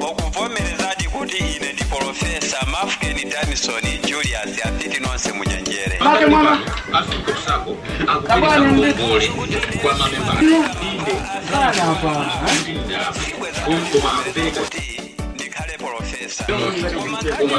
akuvomerezadi kuti ine ndi polofesa mafkeni danison julius apiti nonse munyenjere Make mwana. afika kusako akupitisa ngongole kwa mamemba inde Sana hapa. koma akupereka kuti ndikhale polofesa koma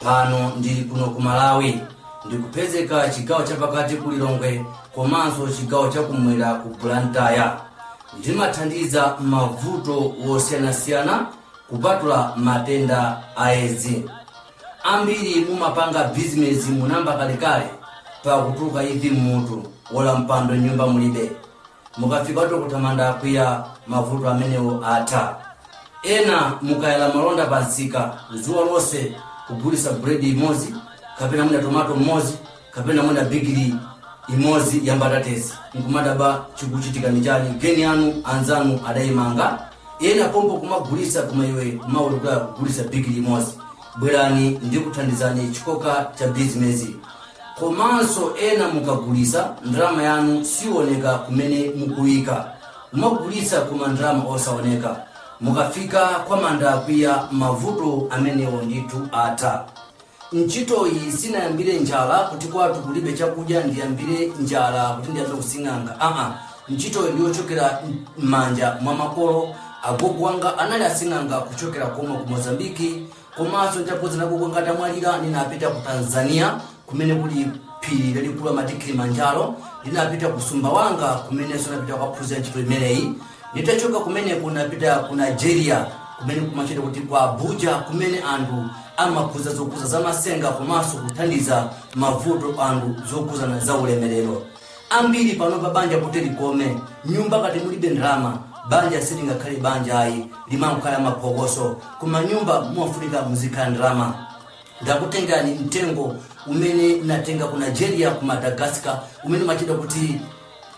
pano ndili kuno ku malawi ndikupezeka chigawo chapakati ku lilongwe komanso chigawo chakumwera ku blantyre ndimathandiza mavuto wosiyanasiyana kupatula matenda a edzi ambiri mumapanga bizinesi munayamba kalekale mpaka kutuluka imvi mmutu olo mpando mnyumba mulibe mukafika dokotala mandakwiya mavuto amenewo atha ena mukayala malonda pa msika dzuwa lonse kugulitsa buledi imodzi kapena mwina tomato mmodzi kapena mwina bigili imodzi ya mbatatesi nkumadabwa chikuchitika ni chani geni yanu anzanu adayimanga ena pompo kumagulitsa koma iwe kumavutikira kugulitsa bigili imodzi Bwerani ndikuthandizeni chikoka cha bizimezi komanso ena mukagulitsa ndalama yanu siwoneka kumene mukuika mumagulitsa koma ndalama osaoneka mukafika kwa mandakwiya mavuto amenewo ndithu atha ntchitoyi sinayambire njala kuti kwatu kulibe chakudya ndiyambire njala kuti ndiyambe using'anga aa ntchitoyi ndi yochokera m'manja mwa makolo agogo wanga anali asing'anga kuchokera komwe ku mozambiki komanso nditaphunzira agogo wanga atamwalira ndinapita ku tanzania kumene kuli phiri lalikulu amati kilimanjaro ndinapita ku sumbawanga kumenenso ndinapita kukaphunzira ntchito imeneyi nditachoka kumeneko ndinapita ku nigeria kumene kumatchedwa kuti ku abuja kumene anthu amaphunzira zokhudza zamasenga komanso kuthandiza mavuto anthu zokhudzana za ulemerero Ambiri panopa banja kuti likome, mnyumba ngati mulibe ndalama, banja silingakhale banja ayi, limangokhala maphokoso. Koma mnyumba mumafunika muzikhala ndalama. Ndakutengerani mtengo umene ndatenga ku Nigeria, ku Madagascar, umene umatchedwa kuti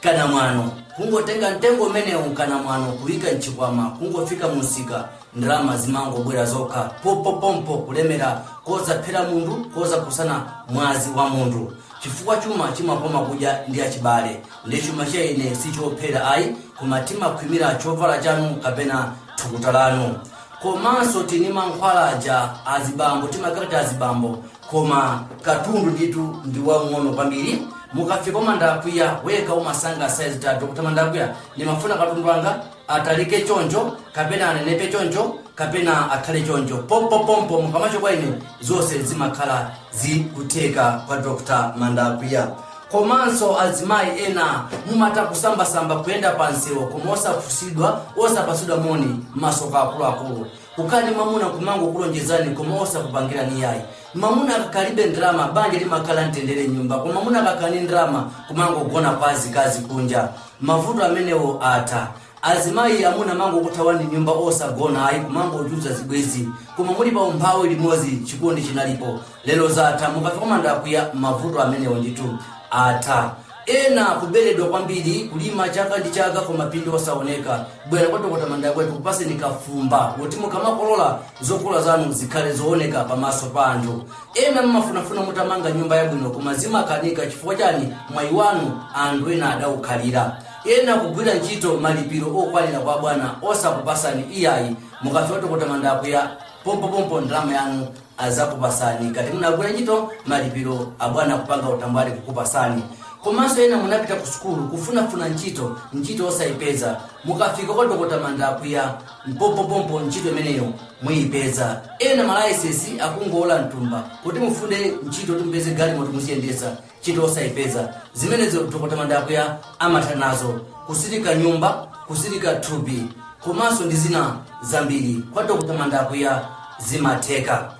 kanamwano. Kungotenga mtengo umenewu kanamwano, kuyika mchikwama, kungofika mumsika, ndalama zimangobwera zokha, pompopompo, kulemera kosaphera munthu, kosakhudzana mwazi wa munthu. chifukwa chuma chimakoma kudya ndi achibale nde chuma cha ine si chophera ayi koma timakhwimira chovala chanu kapena thukuta lanu komanso tili ndi mankhwala aja azibambo timakhalatu azibambo koma katundu ndithu ndi wang'ono kwambiri mukafika kwa mandakwiya wekha umasankha saizi yako kuti mandakwiya ndimafuna katundu wanga atalike choncho kapena anenepe choncho kapena akhale choncho pompopompo mukabwera kwa ine zonse zimakhala zikutheka kwa dr mandakwiya komanso azimayi ena mumatha kusambasamba kuyenda pa msewu koma osafunsidwa osapatsidwa moni masoka akuluakulu kukhala ndi mamuna kumangokulonjezani koma osakupangirani yayi mamuna akakalibe ndalama banja limakhala mtendere mnyumba koma mamuna akakhala ndi ndalama kumangogona kwa azikazi kunja Mavuto amenewo atha. Azimayi amuna amangokuthawani nyumba osagona yayi kumangochulutsa zibwenzi koma muli pa umphawi limodzi chikondi chinalipo lero zatha mukafika kwa mandakwiya mavuto amenewo ndithu atha. Ena kuberedwa kwambiri kulima chaka ndi chaka koma phindu osaoneka. Bwera kwa Dokota Mandakwiya akupaseni kafumba woti mukamakolola zokolola zanu zikhale zooneka pamaso pa anthu. ena mmafunafuna mutamanga nyumba yabwino koma zimakanika chifukwa chani mwayi wanu anthu ena adaukhalira ena kugwira ntchito malipiro okwanira kwa bwana osakupasani iyayi mukafika kwa dokota mandakwiya pompopompo ndalama yanu azakupasani ngati munagwira ntchito malipiro abwana kupanga utambwali kukupasani komanso ena munapita ku sukulu kufunafuna ntchito ntchito osayipeza mukafika kwa dokota mandakwiya pompopompo ntchito imeneyo muyipeza ena malaisesi akungowola mtumba kuti mufune ntchito kuti mupeze galimoto muziyendesa ntchito osayipeza zimenezo dr mandakwiya amatha nazo kutsirika nyumba kutsirika thupi komanso ndi zina zambiri kwa dr mandakwiya zimatheka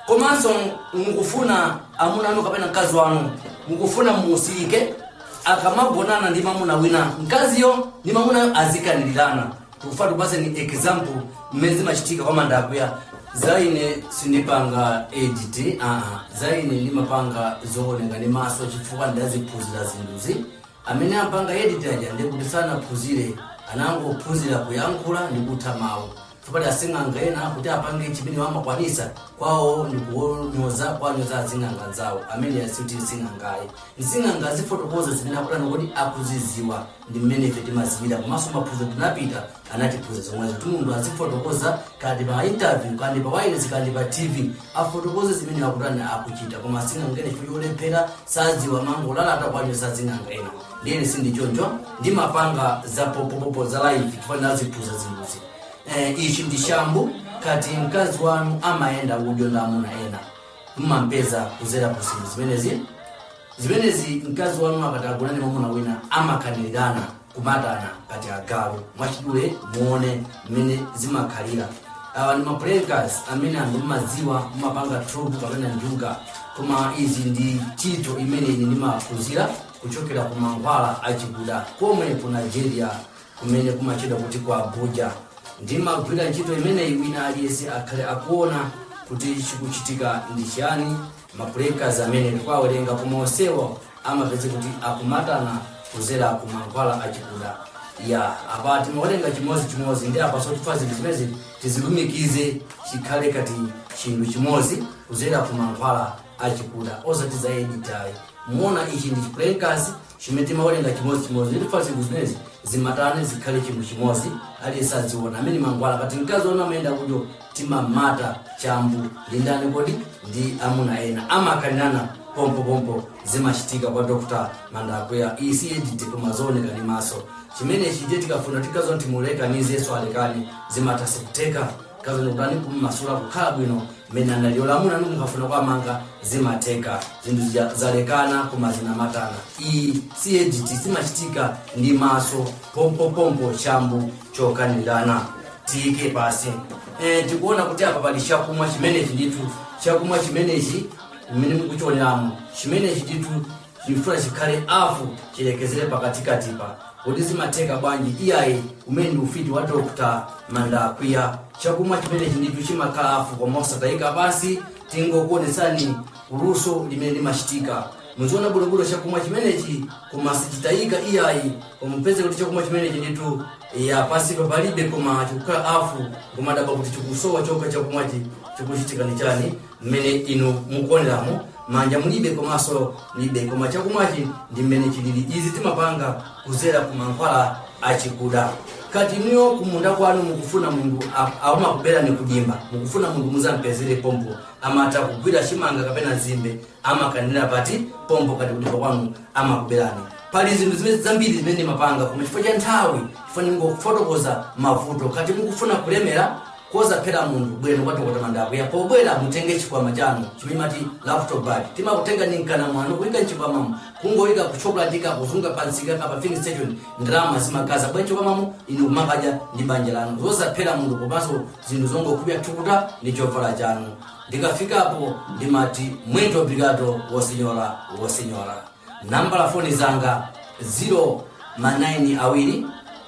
komanso mukufuna amuna anu kapena mkazi wanu mukufuna mutsirike akamagonana ndi mamuna wina mkaziyo ndi mamunayo azikanilirana tikufuna tikupatseni example mmene zimachitika kwa mandakwiya za ine sindipanga edit aa za ine ndimapanga zooneka ndi maso chifukwa ndaziphunzira zinthuzi amene amapanga edit aja ndi kuti sanaphunzire anangophunzira kuyankhula ndi kutha mawu chifukwa asing'anga ena kuti apange chimene amakwanisa kwawo ndi kuwanyoza kuwanyoza asing'anga anzawo ameneyo sikuti nsing'angayi nsing'anga azifotokoza zimene akutani kuti akuziziwa ndi mmene ife timaziwira komanso maphunziro ndinapita anatiphunzitsa zomwezo kuti munthu azifotokoza kaya ndi pa interview kaya ndi pa wireless kaya ndi pa tv afotokoze zimene akutani akuchita koma asing'anga ena chifukwa cholephera saziwa amangolalata kuwanyoza asing'anga ena ndiye ine sindili choncho ndimapanga za popopopo za live chifukwa ndinaziphunzira zinthuzi eh, ichi ndi shambu ngati mkazi wanu amayenda udyo ndi amuna ena mmampeza kudzera ku zinthu zimenezi zimenezi mkazi wanu akati agonane ndi mwamuna wina amakanirirana kumatana ngati agalu mwachidule muone mmene zimakhalira awa ndi ma playing cards amene anthu mmadziwa mmapanga trouble kapena njuga koma izi ndi ntchito imene ine ndimaphunzira kuchokera ku mankhwala achikuda komwe ku nigeria kumene kumatchedwa kuti ku abuja ndimagwira ntchito imeneyi wina aliyense akhale akuona kuti chikuchitika ndi chiyani mapulekazi amene ndikuwawerenga koma onsewo amapeze kuti akumatana kudzera ku mankhwala achikuda ya apa timawerenga chimodzi chimodzi ndi apa so tifuna zinthu zimenezi tizilumikize chikhale ngati chinthu chimodzi kudzera ku mankhwala achikuda osati za edit ayi muona ichi ndi chipulekazi Chimene timawerenga chimodzi chimodzi ndifuna zinthu zimenezi zimatane zikhale chinthu chimodzi aliyense aziona amene mankhwala ngati mkazi wanu amayenda kudyo timamata chambu ndi ndani kodi ndi amuna ena amakanirana pompopompo zimachitika kwa dr mandakwiya iyi si edit koma zooneka ndi maso chimenechi ndithu tikafuna mkaziyo timulekanitse yesu alekane zimathanso kutheka Mkaziyo mukafuna kumumasula kukhala bwino mmene anali olo amuna anu mukafuna kuwamanga zimatheka zinthu zija zalekana koma zinamatana iyi si edit zimachitika ndi maso pompopompo chambu chokanirana tiyike pansi e, tikuona kuti apa pali chakumwa chimenechi ndithu chakumwa chimenechi mmene mukuchioneramu chimenechi ndithu Tifuna chikhale hafu chilekezere pakatikatipa kodi zimatheka bwanji iyayi umenewu ndi ufiti wa Dr. Mandakwiya chakumwa chimenechi ndithu chimakhala hafu koma osatayika pansi tingokuonetsani luso limene limachitika muziona bwinobwino chakumwa chimenechi koma sichitayika iyayi koma mupeze kuti chakumwa chimenechi ndithu ya pansipa palibe koma chikukhala hafu kumadabwa kuti chikusowa chokha chakumwachi chikuchitika ndi chani mmene inu mukuoneramo manja mulibe komanso mulibe koma chakumwachi ndi mmene chilili izi timapanga kudzera ku mankhwala achikuda ngati inuyo kumunda kwanu mukufuna munthu amakuberani kudimba mukufuna munthu mudzampezere pompo amatha kugwira chimanga kapena nzimbe amakanira pati pompo ngati kudimba kwanu amakuberani pali zinthu zimene zambiri zimene ndimapanga koma chifukwa cha nthawi chifukwa ndingofotokoza mavuto ngati mukufuna kulemera kosaphera munthu bwerani kwa dokota mandakwiya pobwera mutenge chikwama chanu chimene mumati laptop bag timakutenga ndi mkana mwanu kuyika mchikwamamo kungoyika kuchopulatika kuzunga pamsika kapena filling station ndalama zimagaza bwa mchikwamamo inu kumakadya ndi banja lanu zosaphera munthu komanso zinthu zongokubya thukuta ndi chovala chanu ndikafikapo ndimati muito obrigado o senhora o senhora nambala foni zanga 0 manayini awiri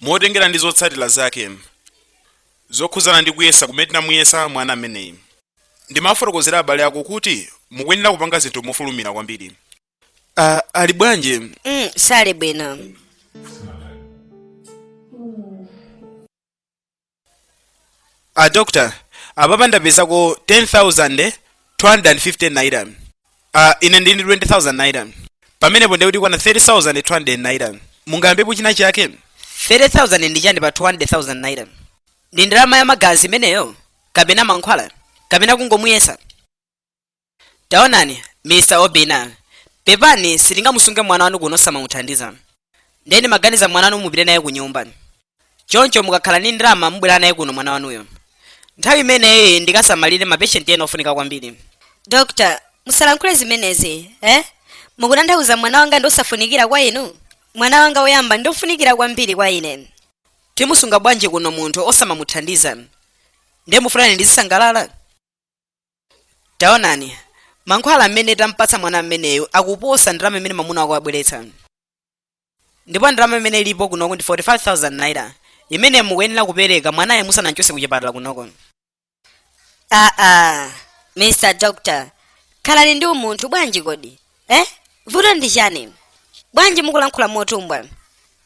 Motengera ndi zotsatira zake zokhudzana ndi kuyesa kumene tinamuyesa mwana ameneyi, ndimawafotokozera abale ako kuti mukuyenera kupanga zinthu mofulumira kwambiri. Ah, ali bwanji? Mm, sali bwino. a doctor apapa ndapezako 10250 naira ine ndili ndi 20000 naira pamenepo nde kuti ikukwana 30200 naira mungayambepo china chake 30,000 ndi chani pa 200,000 naira ndi ndalama ya magazi imeneyo kapena mankhwala kapena kungomuyesa taonani mr obina pepani sitingamusunge mwana wanu kuno osamamuthandiza ndiye ndimaganiza mwana wanu mupite naye ku nyumba choncho mukakhala ndi ndalama mubwere naye kuno mwana wanuyo nthawi imeneyi ndikasamalire mapeshenti ena ofunika kwambiri dr musalankhule zimenezi eh mukutanthauza mwana wanga ndi osafunikira kwa inu mwana wanga woyamba ndi ofunikira kwambiri kwa ine timusunga bwanji kuno munthu osamamuthandiza ndiye mufunani ndizisangalala taonani mankhwala amene tampatsa mwana ameneyu akuposa ndalama imene mamuna wako wabweretsa ndipo ndalama imene ilipo kunoko ndi 45000 naira imene mukuyenera kupereka mwanayo musanamchotse kuchipatala kunoko aa mr doctor khalani ndi umunthu bwanji kodi eh vuto ndi chani bwanji mukulankhula motumbwa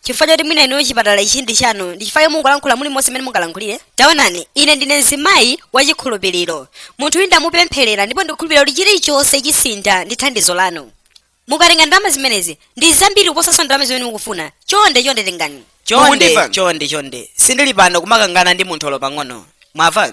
chifukwa choti mwina inuyo chipatala ichi ndi chanu ndi chifukwa choti mungolankhula mulimonse mmene mungalankhulire taonani ine ndine mzimayi wachikhulupiriro munthu uyu ndamupempherera ndipo ndikukhulupirira kuti chilichonse chisintha ndi thandizo lanu mukatenga ndalama zimenezi ndi zambiri kuposanso ndalama zimene mukufuna chonde chonde tengani chonde Mukundimva? chonde chonde sindili pano kumakangana ndi munthu olo pang'ono mwava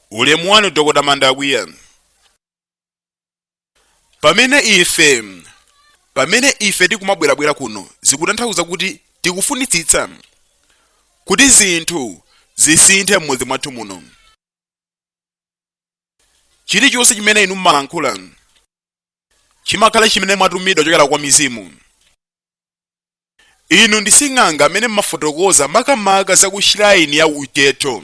ulemu wanu dokota mandakwiya pamene ife tikumabwerabwera kuno zikutanthauza kuti tikufunitsitsa kuti zinthu zisinthe m'mudzi mwathu muno chilichonse chimene inu mumalankhula chimakhala chimene mwatumidwa kuchokera kwa mizimu inu ndi sing'anga amene mumafotokoza makamaka za kushiraini ya uchetho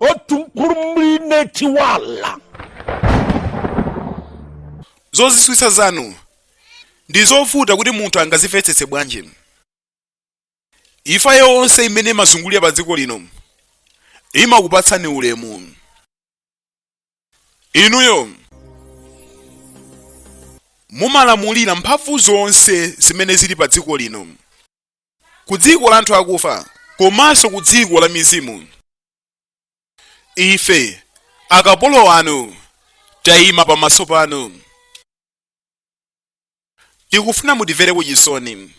otumkurumlinetiwala zozizwitsa zanu ndi zovuta kuti munthu angazimvetsetse bwanji imfa yonse imene imazungulira pa dziko lino imakupatsani ulemu inuyo mumalamulira mphamvu zonse zimene zili pa dziko lino ku dziko la anthu akufa komanso ku dziko la mizimu ife akapolo anu tayima pamaso panu tikufuna mutimvereko chisoni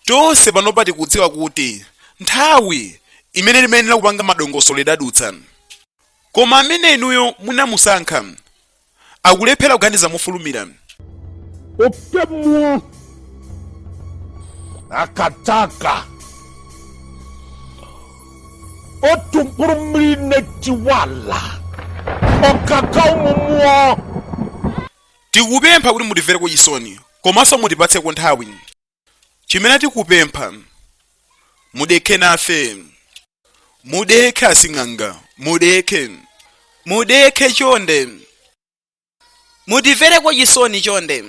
tonse panopa tikudziwa kuti nthawi imene timayenera kupanga madongosolo idadutsa koma amene inuyo munamusankha akulephera kuganiza mofulumira Oke mmụọ akataka otu mkpụrụ mmiri na-etiwa ala ọkaka ụmụ mmụọ tikupempha kuti mutimvereko chisoni komanso mutipatseko nthawi chimene tikupempha mudekhe nafe mudekhe asing'anga mudekhe mudekhe chonde mutimvereko chisoni chonde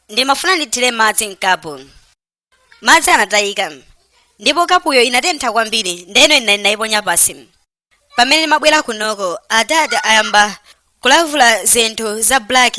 ndimafuna ndithire madzi mkapu madzi anatayika ndipo kapuyo inatentha kwambiri ndeno ine ndinayiponya pansi pamene ndimabwera kunoko adadi ayamba kulavula zinthu za black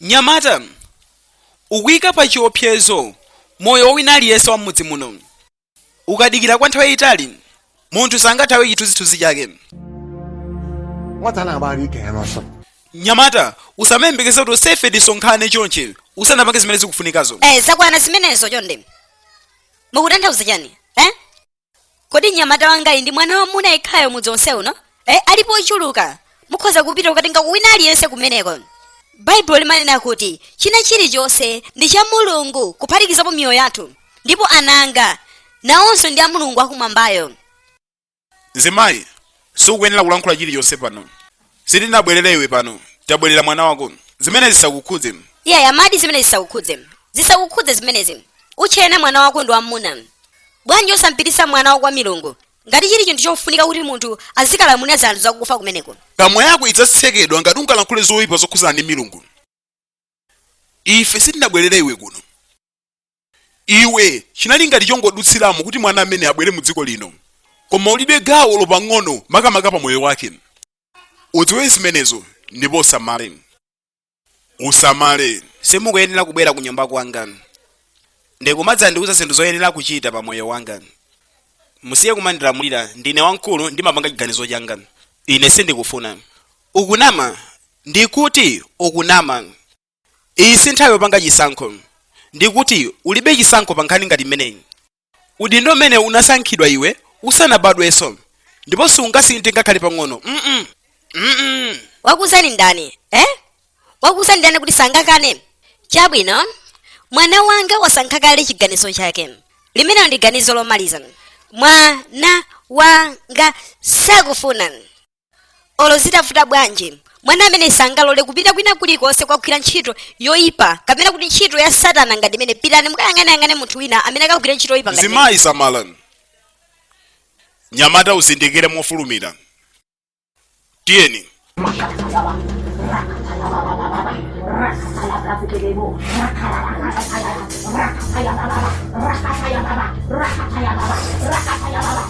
Nyamata, ukuika pa chiopsezo moyo wa wina aliyense wa m'mudzi muno. ukadikira kwa nthawi yayitali munthu sangathawe chithunzithunzi chake nyamata usamayembekeze kuti usefe tisonkhane chonche usanapange zimene zikufunikazo eh zakwana zimenezo chonde mukutanthauza chani eh kodi nyamata wangayi ndi mwana wamuna yekhayo mudzi onse uno e, alipo ochuluka mukhoza kupita ukatenga wina aliyense kumeneko baibulo limanena kuti china chilichonse ndi cha mulungu kuphatikizapo miyoyo yathu ndipo ananga nawonso ndi a mulungu akumwambayo mzimayi sukuyenera kulankhula chilichonse pano sitinabwerere iwe pano tabwerera mwana wako zimene zisakukhudze iya amadi zimene zisakukhudze zisakukhudze zimenezi utchena mwana wako ndi wamuna bwanji osampititsa mwana wako kwa milungu ngati chili chinthu chofunika kuti munthu azikalamulira zanthu zakufa kumeneko kamwa yako idzatsekedwa ngati ungalankhule zoyipa zokhudzana ndi milungu ife sitinabwerere iwe kuno iwe chinali ngati chongodutsiramo kuti mwana amene abwere mu dziko lino koma ulibe gawo lopang'ono makamaka pa moyo wake udziwe zimenezo ndipo usamale usamale simukuyenera kubwera ku nyumba kwanga ndikumadzandiuza zinthu zoyenera kuchita pa moyo wanga musiye kumandilamulira ndine wamkulu ndimapanga chiganizo changa ine sindikufuna ukunama ndikuti ukunama iyi si nthawi yopanga chisankho ndikuti ulibe chisankho pa nkhani ngati imeneyi udindo umene unasankhidwa iwe usanabadwenso ndipo sungasinthe ngakhale pang'ono mm mm wakuuzani ndani eh wakuuzani ndani kuti sangakane chabwino mwana wanga wasankha kale chiganizo chake limene ndi ganizo lomaliza mwana wanga sakufuna olo zitavuta bwanji mwana ameneyi sangalole kupita kwina kulikonse kukagwira ntchito yoyipa kapena kuti ntchito ya satana ngati imeneyi pitani mukayang'aneyang'ane munthu wina amene akagwire ntchito yoyipa ngati imeneyi. mzimayi samalani mnyamata uzindikire mofulumira tiyeni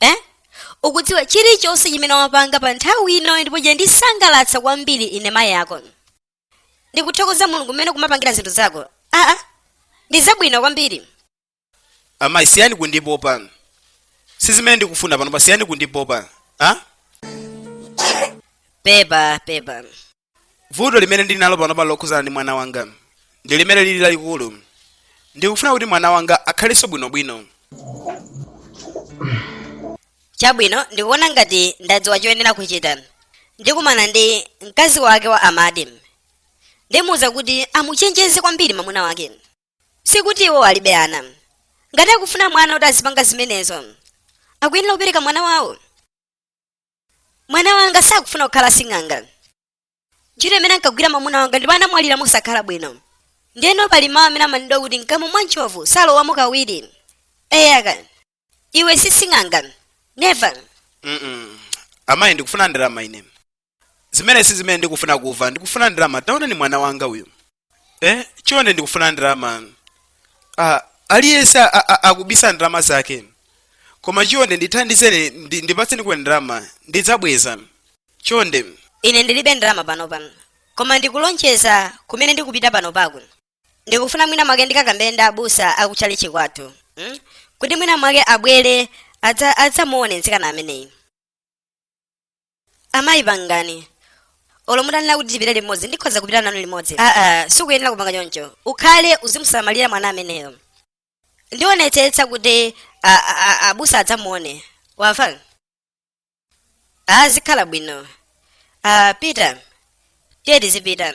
eh? ukudziwa chilichonse chimene wapanga pa nthawi ino ndipo chandisangalatsa kwambiri ine mayi ako ndikuthokoza mulungu mmene ukumapangira zinthu zako aa ndi zabwino kwambiri amayi siyani kundipopa si zimene ndikufuna pano pa siyani kundipopa a pepa pepa vuto limene ndili nalo panopa lokhuzana ndi mwana wanga ndi limene lili lalikulu ndikufuna kuti mwana wanga akhalenso bwinobwino chabwino ndikuona ngati ndadziwa choyenera kuchita ndikumana ndi mkazi wake wa amadi ndimuuza kuti amuchenjeze kwambiri mwamuna wake sikuti iwo alibe ana ngati akufuna mwana kuti azipanga zimenezo akuyenera kupereka mwana wawo mwana wanga sakufuna kukhala sing'anga ntchito imene ankagwira mwamuna wanga ndipo anamwalira mosakhala bwino ndeno pali mawu amene amanenedwa kuti mkamwa mwa ntchovu salowamo kawiri eyaka iwe si sing'anga neva Mm-mm. amayi ndikufuna ndalama ine zimenezi si zimene ndikufuna kuva ndikufuna ndalama taonani mwana wanga uyu eh chonde ndikufuna ndalama ah aliyense a- a- a- akubisa ndalama zake koma chonde ndithandizeni ndi- ndipatsenikoni ndalama ndidzabweza chonde ine ndilibe ndalama panopa koma ndikulonjeza kumene ndikupita panopa ndikufuna mwina mwake ndikakambe ndi abusa akutchalichi kwathu mm? kuti mwina mwake abwere adza- adzamuone mtsikana ameneyu amayi pangani olo mutanena kuti tipite limodzi ndikhoza kupita nanu limodzi aa sukuyenera kupanga choncho ukhale uzimusamalira mwana ameneyo ndionetsetsa kuti a- a- a- abusa adzamuone wamva a zikhala bwino a peter tiye tizipita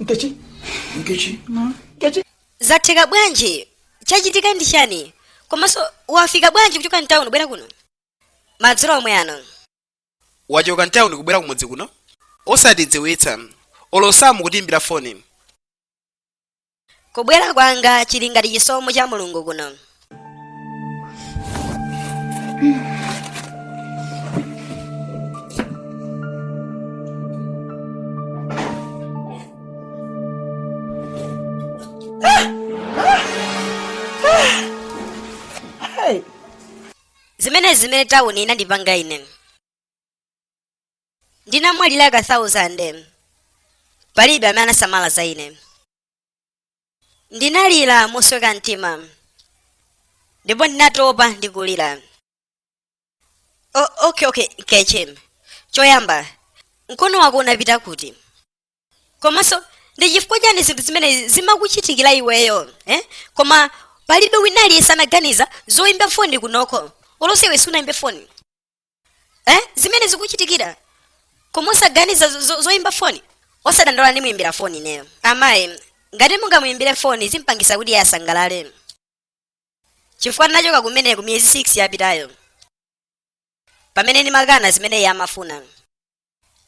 nkechi nkechi nkechi zatheka bwanji chachitika ndi chani komanso wafika bwanji kuchoka mtawuni kubwera kuno madzulo omwe ano wachoka mtawuni kubwera kumudzi kuno osatidziwitsa olo osamatiimbira foni kubwera kwanga chili ngati chisomo cha mulungu kuno zimene zimene tawuni inandipanga ine Ndinamwalira ka thousand. Palibe amene anasamala za ine. Ndinalira mosweka mtima. Ndipo ndinatopa ndi kulira. O, okay, okay, Nkechi. Choyamba, mkono wako unapita kuti? Komanso, ndi chifukwa chani zinthu zimene zimakuchitikira iweyo, eh? Koma palibe wina aliyense anaganiza zoimba foni kunoko. Olose iwe sunayimbe foni. eh? zimene zikukuchitikira koma osaganiza zo- zo- zoyimba foni osadandaula ndimuyimbira foni ineyo amayi ngati mungamuyimbire foni zimpangisa kuti iye asangalale chifukwa ndinachoka kumene ku miyezi 6 yapitayo pamene ndimakana zimene iye amafuna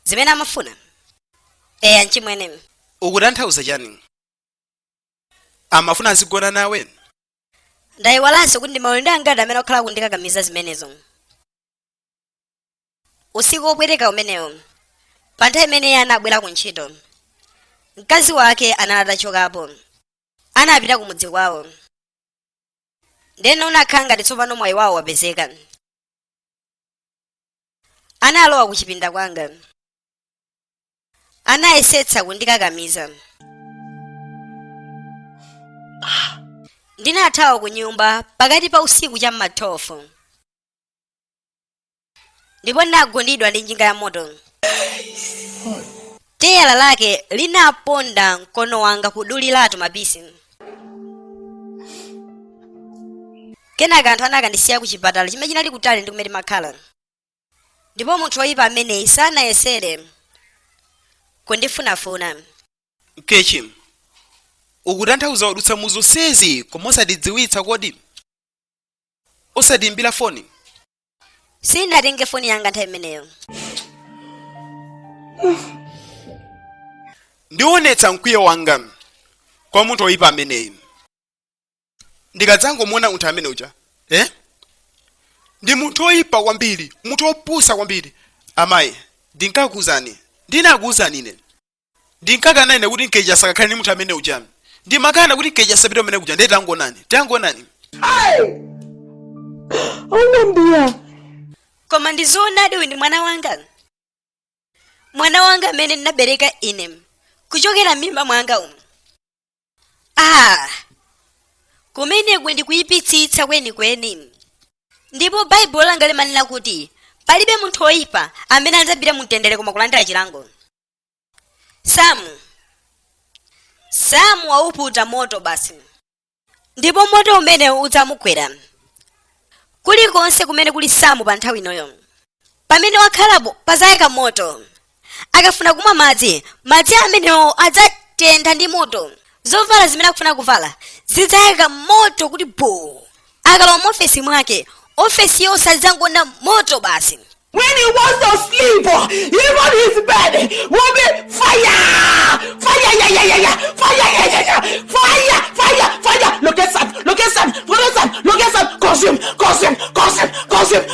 zimene amafuna eya nchimwene ukutanthauza chani amafuna azigona nawe ndayiwalanso kuti ndi maulendo angati amene akhala akundikakamiza zimenezo usiku wopweteka umenewo pa nthawi imene iye anabwera ku ntchito mkazi wake anali atachokapo anapita ku mudzi kwawo ndeno unakhala ngati tsopano mwayi wawo wapezeka analowa ku chipinda kwanga anayesetsa kundikakamiza ndinathawa ku nyumba pakati pa usiku cha m'ma 12 ndipo ndinagundidwa ndi njinga ya moto teyala lake linaponda mkono wanga kuduliratu mapisi kenaka anthu anakandisiya ku chipatala chimene chinali kutali ndi kumene ndimakhala ndipo munthu woyipa ameneyi sanayesere kundifunafuna nkechi ukutanthauza wadutsa mu zonsezi koma osatidziwitsa kodi osatiimbira foni sinatenge foni yanga nthawi imeneyo ndionetsa mkwiyo wanga kwa munthu woyipa ameneyi ndikadzangomuona munthu amene uja eh? ndi munthu oyipa kwambiri munthu opusa kwambiri amayi ndinkakuuzani ndinakuuzani ine ndinkakana ine kuti nkechi asakakhale ndi munthu amene uja ndimakana kuti nkechi asapite kumene kuja ndiye tangonani tangonani aunambiya koma ndizoonadi uyu ndi mwana wanga mwana wanga amene ndinabereka ine kuchokera m'mimba mwanga umu a kumeneku ndi kuyipitsitsa kwenikweni ndipo baibulo langa limanena kuti palibe munthu woyipa amene adzapite mu mtendere koma kulandira chilango samu samu wauputa moto basi ndipo moto umenewo udzamugwera kulikonse kumene kuli samu pa nthawi inoyo pamene wakhalapo padzayaka moto akafuna kumwa madzi madzi amenewo adzatentha ndi moto zovala zimene akufuna kuvala zidzayaka moto kuti buu akalowa mu ofesi mwake ofesi yonse adzangoona moto basi When he wants to sleep, uh, even his bed will be fire, fire, yeah, yeah, yeah, yeah, fire, yeah, yeah, yeah, fire, fire, fire. Look at that, look at that, look at that, look at that. Consume, consume, consume, consume,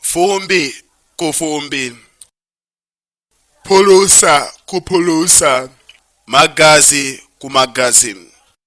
fumbi kufumbi phulusa kuphulusa magazi kumagazi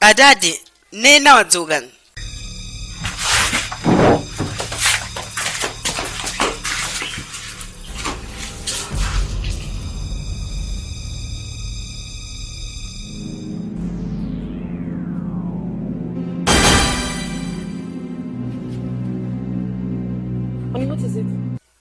adadi Nina wadzuka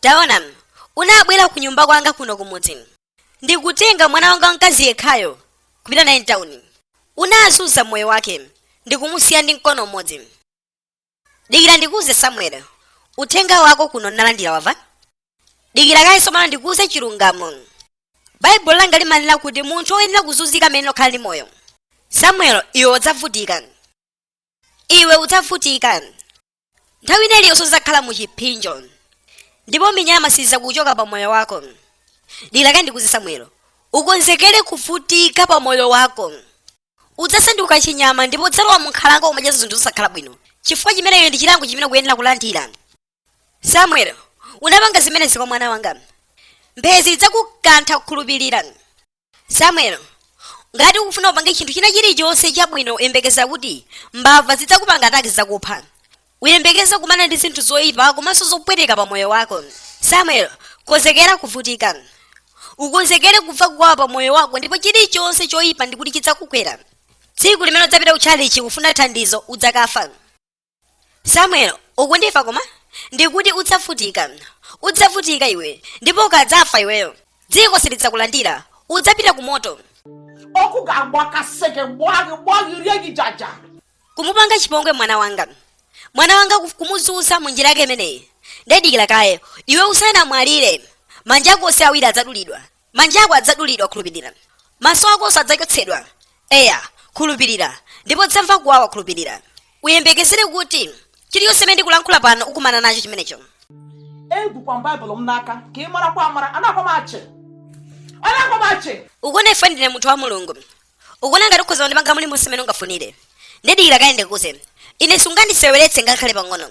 Taona, unabwera ku nyumba kwanga kuno kumudzi ndi kutenga mwana wanga wamkazi yekhayo kupita naye tawuni. Unazunza moyo wake ndi kumusiya ndi mkono umodzi. Dikira ndikuuze Samueli, uthenga wako kuno nalandira wamva. Dikira kaye tsopano ndikuuze chilungamo. Baibulo langa limanena kuti munthu woyenera kuzunzika mmene okhala ndi moyo. Samueli, iwe udzavutika. Iwe udzavutika. nthawi ina iliyonse udzakhala mu chipsinjo ndipo minyama siidzakuchoka pa moyo wako dikira kaye ndikuuze samuel ukonzekere kuvutika pa moyo wako udzasanduka chinyama ndipo udzalowa munkhalango kumadya zinthu zosakhala bwino chifukwa chimenechi ndi chilango chimene ukuyenera kulandira samuel unapanga zimenezi kwa mwana wanga mphezi idzakukantha khulupirira samuel ngati ukufuna upange chinthu china chilichonse chabwino uyembekeze kuti mbava zidzakupanga ataki zidzakupha uyembekeze kukumana ndi zinthu zoyipa komanso zopweteka pa moyo wako samuel konzekera kuvutika ukonzekere kumva kuwawa pa moyo wako ndipo chilichonse choyipa ndikuti chidzakugwera tsiku limene udzapita kutchalichi kufuna thandizo udzakafa samuel ukundimva koma ndikuti udzavutika udzavutika iwe ndipo ukadzafa iweyo dziko silidzakulandira udzapita ku moto okugamba kaseke bwange bwange lyekijaja kumupanga chipongwe mwana wanga mwana wanga kuf- kumuzunza mu njira yake imeneyi nde dikira kaye iwe usanamwalire manja ako onse awiri adzadulidwa manja ako adzadulidwa khulupirira maso akonso adzachotsedwa eya khulupirira ndipo udzamva kuwawa khulupirira uyembekezere kuti chilichonse chimene ndikulankhula pano ukumana nacho chimenecho egwukwa m baịbụl m n'aka ka ị marakwa amara anakwa m achị anakwa m achị ukuona ine ndine munthu wa mulungu ukuona ngati ukhoza kundipanga mulimonse mmene ungafunire dikira kaye ndikuuze ine sungandiseweretse ngakhale pang'ono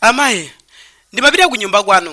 amayi ndimapita ku nyumba kwanu